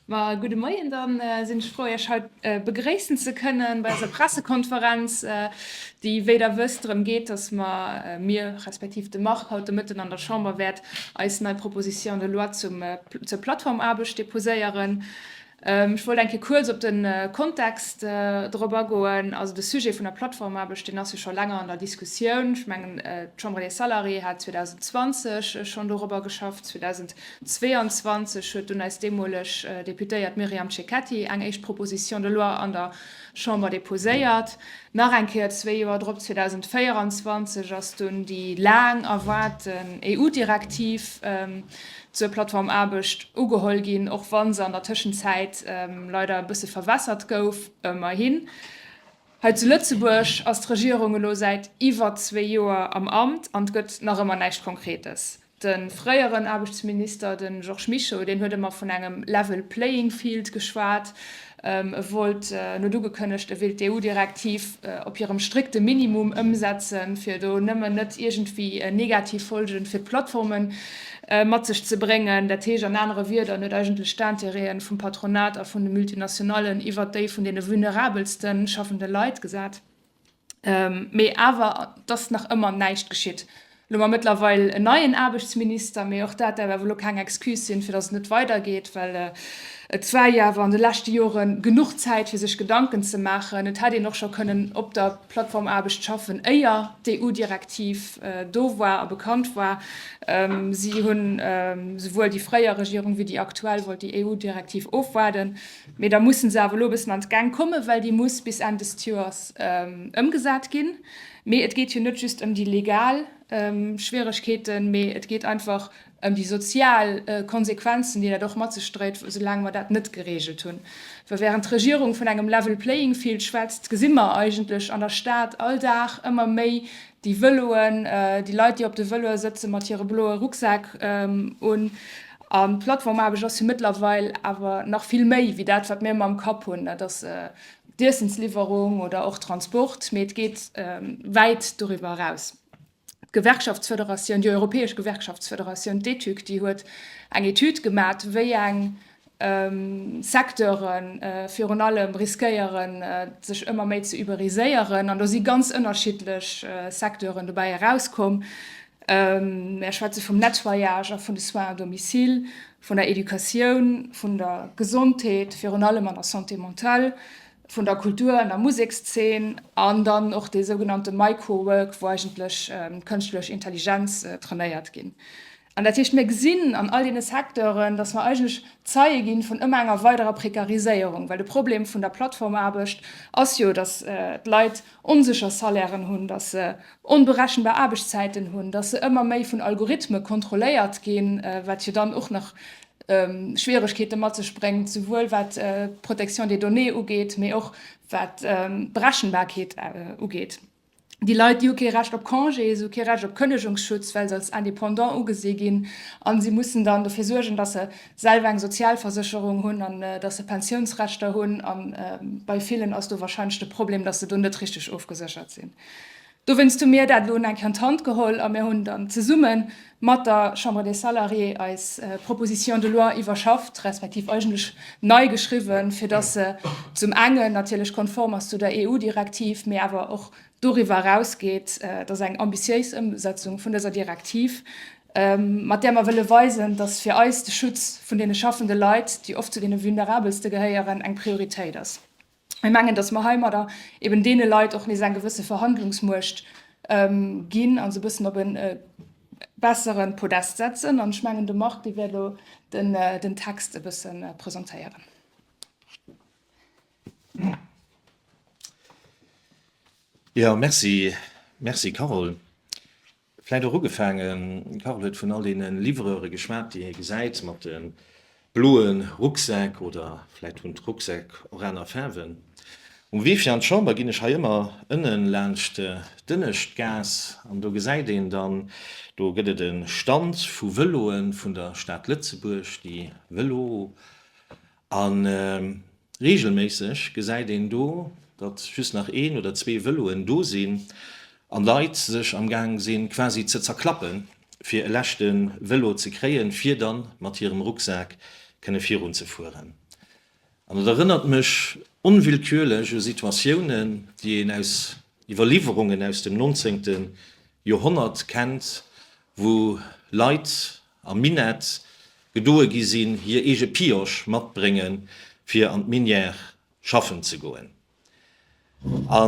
Ma gudde Moien, dann sinn ech frou Iech haut begréissen ze kënnen bei eiser Pressekonferenz, déi wéi der wësst drëm geet, dass mer, mir respektiv de Marc, haut de Mëtten an der Chamber wäert eis nei Proposition de loi zum, zur Plattformaarbecht déposéieren. Ech wollt eng Kéier kuerz op de Kontext drop agoen. Also de Sujet vun der Plattformaarbecht, deen ass jo scho länger an der Diskussioun. Ech mengen d'Chambre des Salariés hat 2020 schonn dorobber geschafft, 2000. 22 huet dunn eis deemoleg Deputéiert Myriam Cecchetti eng éischt Proposition de loi an der Chamber deposéiert. Nach eng Kéier, zwee Joer drop, 2024, ass dunn déi laang erwaarte EU-Direktiv zur Plattformaarbecht ugeholl ginn, och wa se an der Tëschenzäit leider e bësse verwässert gouf. Ëmmerhin, hei zu Lëtzebuerg ass d'Regierung elo säit iwwer zwee Joer am Amt an et gëtt nach ëmmer näischt Konkretes. De fréieren Aarbechtsminister, de Georges Mischo, deen huet ëmmer vun engem level playing field geschwat. E wollt, en huet ugekënnegt, e wéilt d'EU-Direktiv op hirem strikte Minimum ëmsetzen, fir do nëmmen net iergendwéi negativ Folge fir d'Plattforme mat sech ze bréngen. Dat heescht an anere Wierder, en huet eigentlech d'Intérêten vum Patronat a vun de Multinationallen iwwert déi vun deene vulnerabelste schaffende Leit gesat. Mee awer et ass nach ëmmer näischt geschitt. Elo hu mer mëttlerweil en neien Aarbechtsminister, mee och dat däerf awer elo keng Excuse sinn, fir datt et net weidergeet, well et war jo awer an de leschte Jore genuch Zäit, fir sech Gedanken ze maachen. Et hätt een och scho kënnen op der Plattformaarbecht schaffen, éier d'EU-Direktiv do war a bekannt war. Si hunn, souwuel déi fréier Regierung wéi déi aktuell, wollt déi EU-Direktiv ofwaarden. Mee da mussen se awer elo e bëssen an d'Gäng kommen, well déi muss bis Enn dëst Joers ëmgesat ginn. Mee et geet jo net just ëm déi legal Schwieregkeeten, mee et geet einfach ëm déi sozial Konsequenzen, déi dat och mat sech dréit, soulaang mer dat net gereegelt hunn. Well während d'Regierung vun engem level playing field schwätzt, gesi mer eigentlech an der Stad all Dag ëmmer méi déi Vëloen, déi Leit, déi op de Vëloe sëtzen, mat hire bloe Rucksäck un. An d'Plattformaarbecht ass jo mëttlerweil awer nach vill méi wéi dat, wat mir ëmmer am Kapp hunn, dat ass d'Iessensliwwerung oder och Transport, mee et geet wäit doriwwer eraus. D'Gewerkschaftsfederatioun, déi europäesch Gewerkschaftsfederatioun, d'ETUC, déi huet eng Etüd gemat, wéi eng Secteure virun allem riskéiere sech ëmmer méi ze uberiséieren. An do si ganz ënnerschiddlech Secteuren dobäi erauskomm, Mär schwätze vum Nettoyage a vun de Soins à domicile, vun der Educatioun, vun der Gesondheet, virun allem an der Santé mentale, vun der Kultur an der Musekszeen an dann och dee sougenannte Microwork, wou eigentlech d'kënschtlech Intelligenz trainéiert ginn. An dat heescht, mir gesinn an all deene Secteuren, datt mer eigentlech Zeie gi vun ëmmer enger weiderer Prekariséierung, well de Problem vun der Plattformaarbecht ass jo, datt d'Leit onsécher Salairen hunn, datt se onberechenbar Aarbechtszäiten hunn, datt se ëmmer méi vun Algorithme kontrolléiert ginn, wat jo dann och nach Schwieregkeete mat sech bréngt, souwuel wat d'Protection des données ugeet, mee och wat d'Berechenbarkeet ugeet. Déi Leit, déi hu kee Recht op Congé, se hu kee Recht op Kënnegungsschutz, well se als Indépendant ugesi ginn a si mussen dann dofir suergen, datt se selwer eng Sozialversécherung hunn an datt se Pensiounsrechter hunn, a bei villen ass do wahrscheinlech de Problem, datt se do net richteg ofgeséchert sinn. Dowéinst hu mir dat elo eng Kéier an d'Hand geholl a mir hunn dann zesumme mat der Chambre des Salariés eis Proposition de loi iwwerschafft, respektiv eigentlech nei geschriwwen, fir datt se zum engen natierlech konform ass zu der EU-Direktiv, mee awer och doriwwer erausgeet, datt eng ambitiéis Ëmsetzung vun dëser Direktiv mat där mer wëlle weisen, dass fir eis de Schutz vun deene schaffende Leit, déi oft zu deene Vulnerabelste gehéieren, eng Prioritéit ass. Mir mengen, dass mer heimadder eben deene Leit och nees eng gewësse Verhandlungsmuecht ginn a se e bëssen op e bessere Podest setzen. An ech mengen, de Marc, dee wäert elo den Text e bësse presentéieren. Jo, merci. Merci, Carole. Vläit och ugefaangen, de Carole huet vun all deene Livreure geschwat, déi hie gesäit mat de bloe Rucksäck, oder vläit hunn d'Rucksäck och aner Faarwen. Um Wee fir an d'Chamber ginn ech hei ëmmer ënne laanscht d'Ënneschtgaass, an do gesäit een dann, do gëtt et e Stand vu Vëloe vun der Stad Lëtzebuerg, déi Vëlo. A reegelméisseg gesäit een do, datt just nach een oder zwee Vëloen do sinn an Leit sech am Gaang si quasi ze zerklappen, fir e leschte Vëlo ze kréien, fir da mat hirem Rucksak kënne virun ze fueren. An et erënnert mech onwillkürlech u Situatiounen, déi een aus Iwwerliwwerungen aus dem 19. Joerhonnert kennt, wou Leit am Minett gedoe gi sinn, hir eege Pioche matbrénge fir an d'Minière schaffen ze goen. A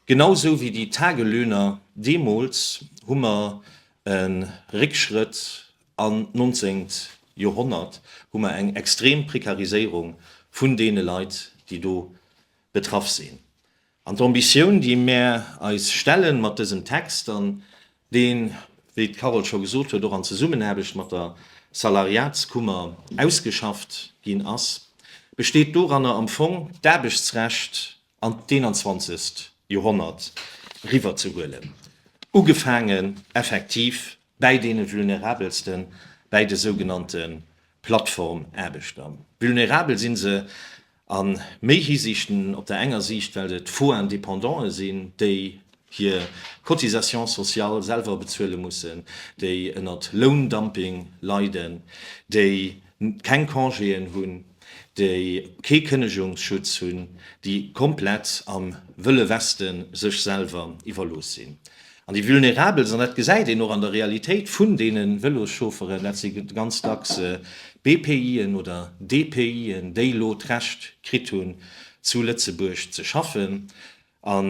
genau sou wéi déi Tagelöhner deemools hu mer e Réckschrëtt an d'nonzéngt Joerhonnert, hu mer eng extrem Prekariséierung vun deene Leit, déi do betraff sinn. An d'Ambitioun, déi mär eis stellen mat dësem Text an deen, wéi d'Carole scho gesot huet, och an Zesummenaarbecht mat der Salariatskummer ausgeschafft ginn ass, besteet doranner, am Fong d'Aarbechtsrecht an d'Eenanzwanzegst Joerhonnert eriwwerzehuelen, ugefaangen effektiv bäi deene Vulnerabelsten, bäi de sougenannte Plattformaarbechter. Vulnerabel si se, A méi Hisiichten, op der enger Siicht well et Faux Indépendanten sinn, déi hir Cotisations sociales selwer bezuele mussen, déi ënnert Loundumping leiden, déi keng Congéen hunn, déi kee Kënnegungsschutz hunn, déi komplett am Wëlle Weste sech selwer iwwerlooss sinn. An déi Vulnerables, an dat gesäit een och an der Realitéit vun deene Vëloschaufferen, dat si ganz dacks BPI'en oder DPI'en, déi elo d'Recht kritt hunn, zu Lëtzebuerg ze schaffen, a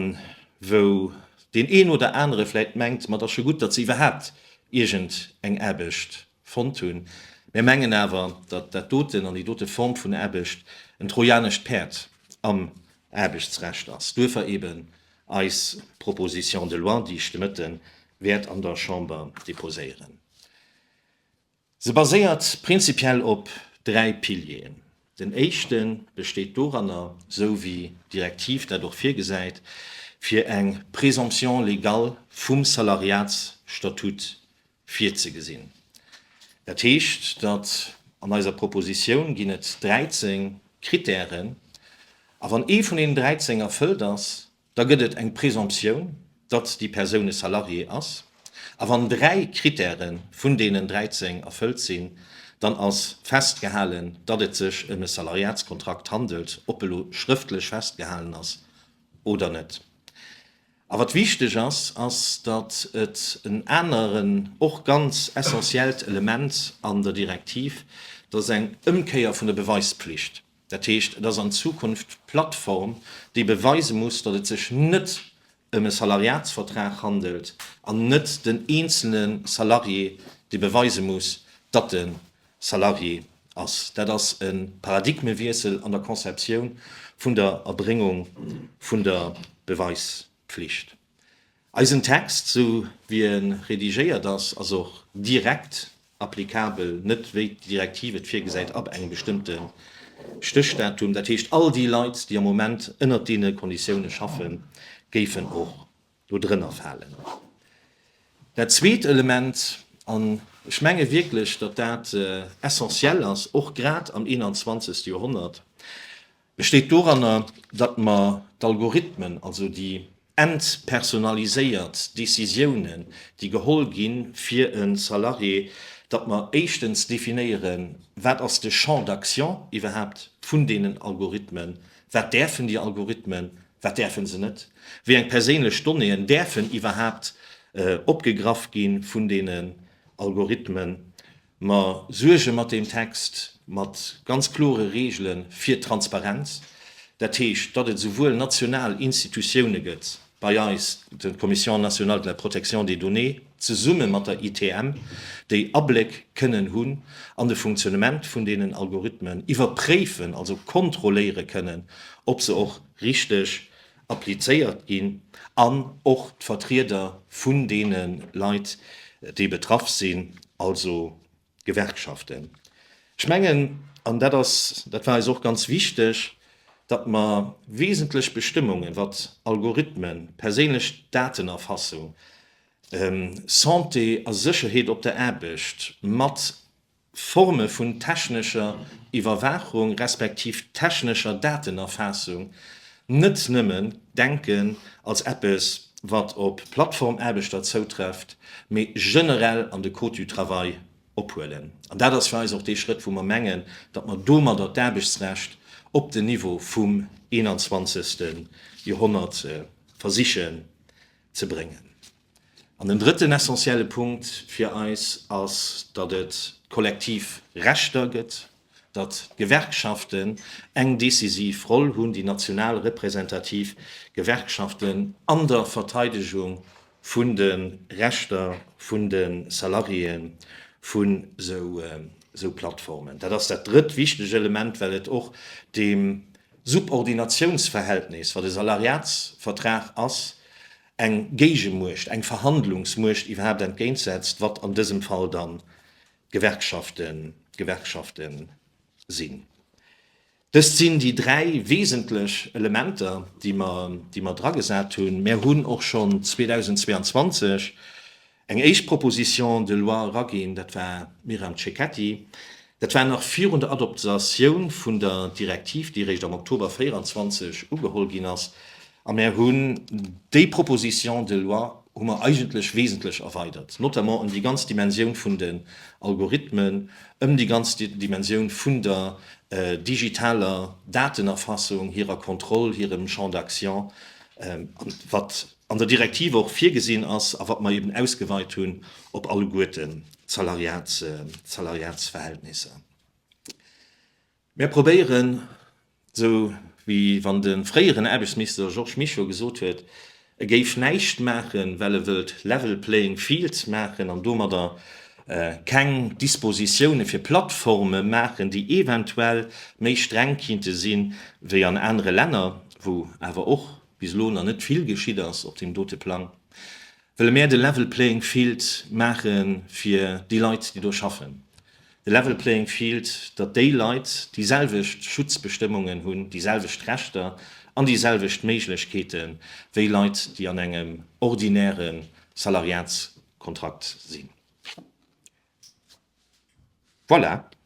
wou deen een oder anere vläicht mengt, ma et ass scho gutt, datt se iwwerhaapt iergend eng Aarbecht fonnt hunn. Mär mengen awer, datt dat doten an déi dote Form vun Aarbecht en trojanescht Päerd am Aarbechtsrecht ass. Duerfir eben Eis Proposition de loi, déi ech de Mëtte wäert an der Chamber déposéieren, se baséiert prinzipiell op dräi Pilieren. Den éischte besteet doranner, esou wéi d'Direktiv dat och virgesäit, fir eng Présomption légale vum Salariatsstatut Virzegesinn. Dat heescht, datt an eiser Propositioun ginn et 13 Krittären, a wann ee vun deenen 13 erfëllt ass, da gëtt et eng Presomptioun, datt déi Persoun e Salarié ass, a wann dräi Krittäre vun deenen 13 erfëllt sinn, dann ass festgehalen, datt et sech ëm e Salariatskontrakt handelt, ob e lo schrëftlech festgehalen ass oder net. A wat wichteg ass, ass, datt et en aneren, och ganz essentiellt Element an der Direktiv, dat ass eng Ëmkéier vun der Beweispflicht. Dat heescht, et ass an Zukunft d'Plattform, déi beweise muss, datt et sech net ëm e Salariatsvertrag handelt, an net den eenzele Salarié, dee beweise muss, datt en Salarié ass. Dat ass e Paradigmewiessel an der Conceptioun vun der Erbréngung vun der Beweispflicht. Eisen Text, esou wéi e redigéiert ass, ass och direkt applikabel, net wéi d'Direktiv et virgesäit, ab engem bestëmmte Stéchdatum. Dat heescht, all déi Leit, déi am Moment ënnert deene Konditioune schaffen, géifen och do drënner falen. Dat zweet Element, an ech menge wierklech, datt dat essentiell ass, och grad am 21. Joerhonnert, besteet doranner, datt mer d'Algorithmen, also déi entpersonaliséiert Décisiounen, déi geholl gi fir e Salarié, datt mer éischtens definéieren, wat ass de Champ d'action iwwerhaapt vun deenen Algorithmen, wat däerfen déi Algorithmen Wat däerfe se net? Wéi eng perséinlech Donnéeën däerfen iwwerhaapt opgegraff gi vun deenen Algorithmen? Mer suerge mat deem Text mat ganz klore Reegele fir Transparenz. Dat heescht, datt et esouwuel national Institutioune gëtt, bei eis d'Commission nationale de la protection des données, zesumme mat der ITM, déi Abléck kënnen hunn an de Funktionnement vun deenen Algorithmen, iwwerpréifen, also kontrolléiere kënnen, ob se och richteg applizéiert ginn, an och d'Vertrieder vun deene Leit, déi betraff sinn, also D'Gewerkschaften. Ech mengen, an dat ass, dat war eis och ganz wichteg, datt mer wesentlech Bestëmmungen, wat Algorithmen, perséinlech Datenerfassung, Santé a Sécherheet op der Aarbecht, mat Forme vun technescher Iwwerwaachung respektiv technescher Datenerfassung, net nëmmen denken als eppes, wat op Plattformaarbechter zoutrefft, mee generell an de Code du travail ophuelen. An dat ass fir eis och dee Schrëtt, wou mer mengen, datt mer domadder d'Aarbechtsrecht op den Niveau vum 21. Joerhonnert versichen ze bréngen. An den drëtten essentielle Punkt fir eis ass, datt et kollektiv Rechter gëtt, datt d'Gewerkschaften eng decisiv Roll hunn, déi national representativ Gewerkschaften an der Verteidegung vun de Rechter vun de Salariéë vu sou Plattformen. Dat ass dat drëtt wichteg Element, well et och deem Subordinatiounsverhältnis, wat e Salariatsvertrag ass, eng Géigemuecht, eng Verhandlungsmuecht iwwerhaapt entgéint setzt, wat an dësem Fall dann d'Gewerkschafte sinn. Dëst sinn déi dräi wesentlech Elementer, déi mer dragesat hunn. Mär hunn och schonn 2022 Eng éischt Proposition de loi eraginn, dat war d'Myriam Cecchetti, dat war nach virun der Adoptatioun vun der Direktiv, déi eréischt am Oktober 24 ugeholl ginn ass, a mär hunn déi Proposition de loi hu mer eigentlech wesentlech erweidert, notamment ëm déi ganz Dimensioun vun den Algorithmen, ëm déi ganz Dimensioun vun der digitaler Datenerfassung, hirer Kontroll, hirem Champ d'action an wat an der Direktiv och virgesinn ass a wat mer eben ausgeweit hunn op alleguerten d'Salariatsverhältnisser. Mär probéieren, esou wéi wann de fréieren Aarbechtsminister Georges Mischo gesot huet, e géif näischt maachen, well e wëllt level playing field maachen an domadder keng Dispositiounen fir Plattforme maachen, déi eventuell méi streng kinnte sinn, wéi an anere Länner, wou awer och bis elo nach net vill geschitt ass op deem dote Plang, wëlle mär de level playing field maache fir déi Leit, déi do schaffen. De level playing field, datt déi Leit déi selwecht Schutzbestëmmungen hunn, déi selwecht Rechter an déi selwecht Méiglechkeete wéi Leit, déi an engem ordinäre Salariatskontrakt sinn. Voilà!